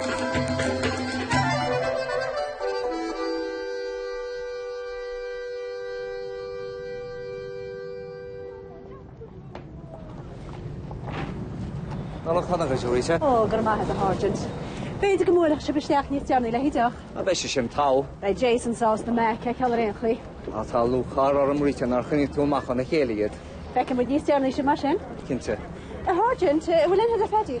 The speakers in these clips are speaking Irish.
Nollaig Shona agaibh, Louisa. Ó, go raibh maith agat, a Sháirsint. B'fhéidir go mbuailfeadh sibh isteach níos deireanaí le haghaidh deoch. Á, beidh sé sin togha. Beidh Jason sásta Mac a fheiceáil ar aon chaoi. Tá, tá lúcháir orm, Rita, nár choinnigh tú amach óna chéile iad. Feicfidh muid níos deireanaí sibh mar sin. Cinnte. A Sháirsint, an bhfuil aon rud le Pheaidí?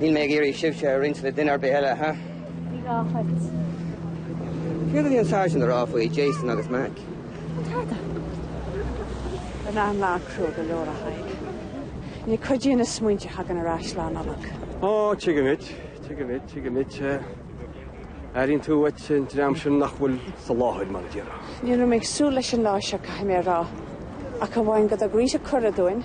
Níl mé ag iarraidh sibhse a roinnt le duine ar bith eile, ha? Ní gá duit. Céard a bhí an Sergeant a rá faoi Jason agus Mac? Tada. Ar na an lá crua go leor a Thaidhg. Ní chuidíonn na smaointe a thagann ar ais Lá Nollag. Ó, tuigim duit, tuigim duit, tuigim duit. Airínn tú uait an dream sin nach bhfuil sa láthair mar a déarfá. Ní raibh mé ag súil leis an lá seo, caithfidh mé a rá. Ach amháin go dtug Rita cuireadh dúinn.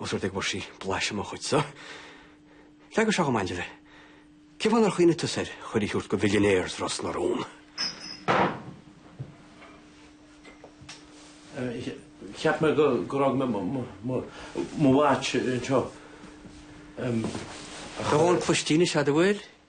Ós rud é go bhfuair sí blaiseadh mo chuid so, leagadh seo go maith libh. Cén fáth nár chuimhnigh tusa ar chuireadh a thabhairt do bhillionaires Ros na Rún? Cheap mé go raibh mé mo mhaith anseo. Tá dhomhan cloistín is ea, do bhfuil?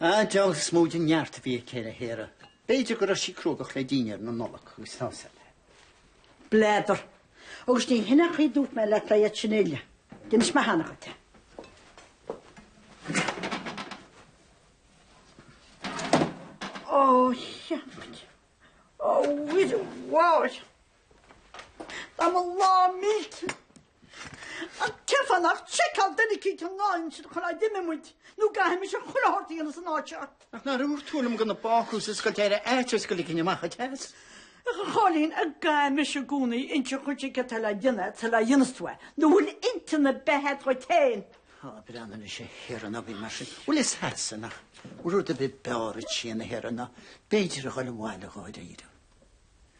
A d'fhág is mó den neart a bhí aici ar a haire. B'fhéidir go raibh sí cruógach le dinnéar na Nollag agus tá's agat. B'fhéidir. Agus ní hin an chaoi dúirt mé leat ba iad sin uile. D'inis mé cheana dhuit é. Ó, cheannaigh. Ó, bhuid, bháid. Tá mo lá millte. Ach tchifeá nach tseiceáil duine aici an lá insin chun ná d'imigh muid nó chaithfimis an chruthóirt a dhéanamh san áit seo. Ach nár dhúirt tú liom gan an bácús a oscailt ar fhaitíos go ligfinn amach an teas. Ach a Chóilín, an gcaithfidh mise i gcónaí insint dhuit céard atá le déanamh sula ndéanas tú é. Nó an bhfuil intinn ar bith agat féin? Tá breann anois a Thiarna an againn mar sin. Bhuel is Sasanach rud a bith beáir a tchí ina Thiarna ná b'fhéidir a dhul abhaile dháiríre.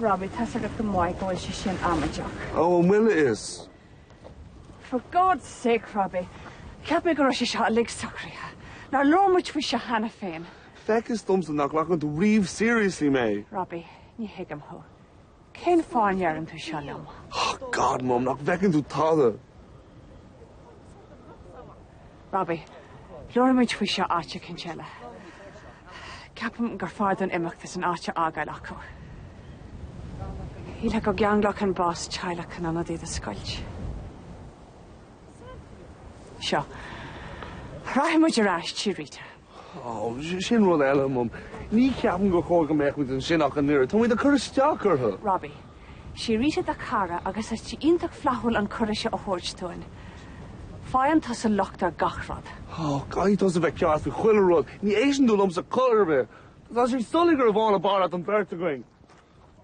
Robbie, tá a fhios agat go maith go bhfuil sé sin amaideach. Ó, an bhfuil a fhios? For God's sake, Robbie, cheap mé go raibh sé seo uilig socraithe. Nár labhair muid faoi seo cheana féin. Feictear domsa nach nglacann tú riamh seriously mé. Robbie, ní thuigim thú. Cén fáth a ndeireann tú seo liom? Oh, God, Mum, nach bhfeiceann tú tada? Robbie, labhróidh muid faoi seo áit eicínt eile. Ceapaim gur fearr dúinn imeacht is an áit a fhágáil acu. Shílfeá go gceanglódh an bás teaghlach in ionad iad a scoilt. Seo. Rachaidh muid ar ais, tí Rita. Sin rud eile, Mum. Ní cheapaim gur chóir go mbeadh muid ansin ach an oiread. Tá muid ag cur isteach orthu. Robbie. Sí Rita do chara agus tá sí iontach flaithiúil an cuireadh seo a thabhairt dúinn. Faigheann tusa locht ar gach rud. Caithfidh tusa bheith ceart faoi chuile rud. Ní éisteann tú liomsa chor ar bith. Tá sé soiléir gurbh í Ann ab fhearr leat den bheirt againn.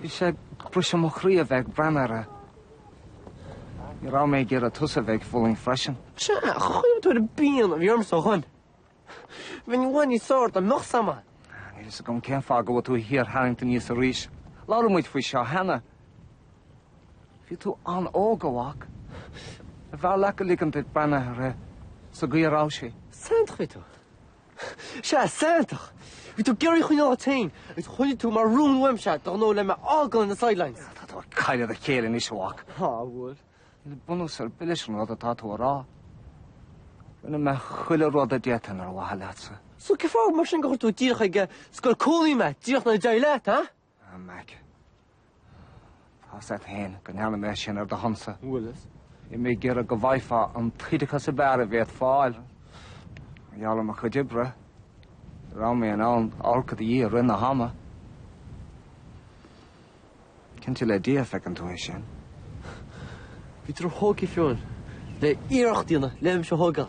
Bhí sé ag briseadh mo chroí a bheith ag breathnú uirthi. Ní raibh mé ag iarraidh tusa a bheith ag fulaingt freisin. Sea, ar chuimhnigh tú ar an bpian a bhí ormsa ó shoin. Bheinn uaidh níos óir dá mbeadh sam ann. Níl fhios agam cén fáth go bhfuil tú á shíortharraingt aníos arís. Labhair muid faoi seo cheana. Bhí tú an-óg, a mhac. Ar mhaith leat go ligfinn duit breathnú uirthi sa gcaoi a raibh sí. Santach a bhí tú. Sea, santach! Bhí tú ag iarraidh í a choinneáil leat féin agus choinnigh tú mar rún uaimse de ghnó le mé a fhágáil ar na sidelines. Tá tú ag cailleadh do chéille anois, a mhac. Á, a bhfuil? Níl bunús ar bith leis an rud atá tú a rá. Rinne mé chuile rud a d'fhéadfainn ar mhaithe leatsa. So cén fáth mar sin gur chuir tú díreach ag scoil cónaí mé, díreach nuair a d'éirigh leat, ha? A Mhac, tá's'at fhéin go ndearna mé sin ar do shonsa. An bhfuil a fhios? Bhí mé ag iarraidh go bhfaighfeá an t-oideachas ab fhearr a bhféadfá a fháil. Mar gheall ar mo chuid oibre, ní raibh mé in ann amharc i do dhiaidh i rith na hama. Cinnte le Dia feiceann tú é sin. Bhí tú róthógtha fiú le hiarracht a dhéanamh le mise a thógáil.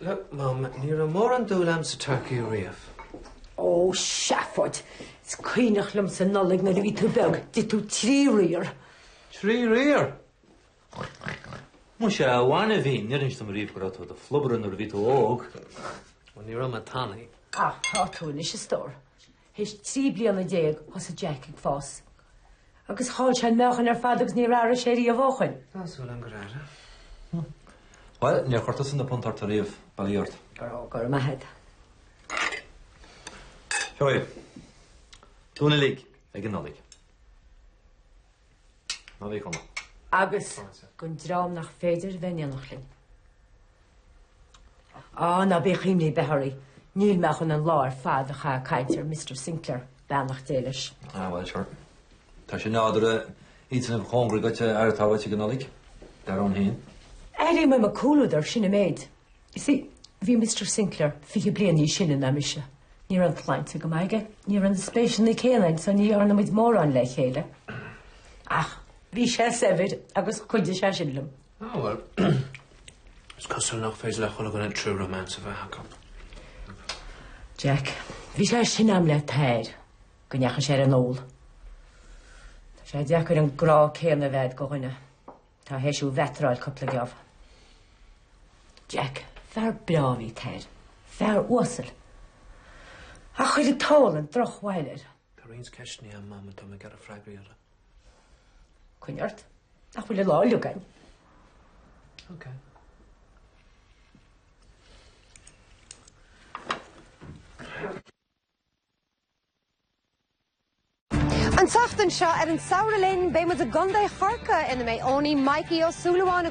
Look, Mum, ní raibh mórán dúil a'm sa turcaí riamh. Ó, seafóid! Is cuimhneach liomsa Nollaig nuair a bhí tú beag, d'ith tú trí riar. Trí riar? Muise a bhainbhín, níor inis tú dom riamh go raibh tú i do phlobaire nuair a bhí tú óg. Ó, ní raibh mé tanaí. Ach tá tú anois, a stór. Aois trí bliana déag, thosaigh Jack ag fás agus chaill sé an meáchan ar fad agus níor athraigh sé riamh ó shoin. Tá súil agam gur athraigh. Bhuel, níor chuir tusa na punt ort ariamh, bail ó Dhia ort. Go raibh, go raibh maith agat. Seo é. Dúinn uilig ag an Nollaig. Nollaig shona. Agus don dream nach féidir bheith in éineacht linn. Á, ná bíodh imní ar bith oraibh, níl mé chun an lá ar fad a chaitheamh ag caint ar Mister Sinclair, beannacht Dé leis. Á, bhuel, sure. Tá sé nádúrtha iad atá cóngarach duit a aireachtáil uait ag an Nollaig, dar ann féin. Airím uaim an comhluadar, sin an méid. You see, bhí Mister Sinclair fiche bliain níos sine ná mise. Ní raibh an tsláinte go maith aige, ní raibh na spéiseanna céanna aige so ní dhearna muid mórán le chéile. Ach bhí sé saibhir agus chuidigh sé sin liom. Ó bhuel, is cosúil nach féidir le chuile dhuine an triúr romance a bheith acu. Jack, Bhí sé sin i ngrá le Tair go ndeachaigh sé ar an ól. Tá sé deacair an grá céanna a bheith agat do dhuine. Tá tar éis é a mheeteáil cúpla geábh. Jack, Fear breá ab ea Tair. Fear uasal. Ach chuir an t-ól drochbhail air. Tá roinnt ceisteanna agam atá mé ag iarraidh freagraí orthu. Coinnigh ort. Ach níl an lá uilig againn. Ok. An tseachtain seo ar An Samhradh Linn beidh muid i gContae Chorcaí ina mbeidh Eoiní Mhaidhcí Ó Súilleabháin,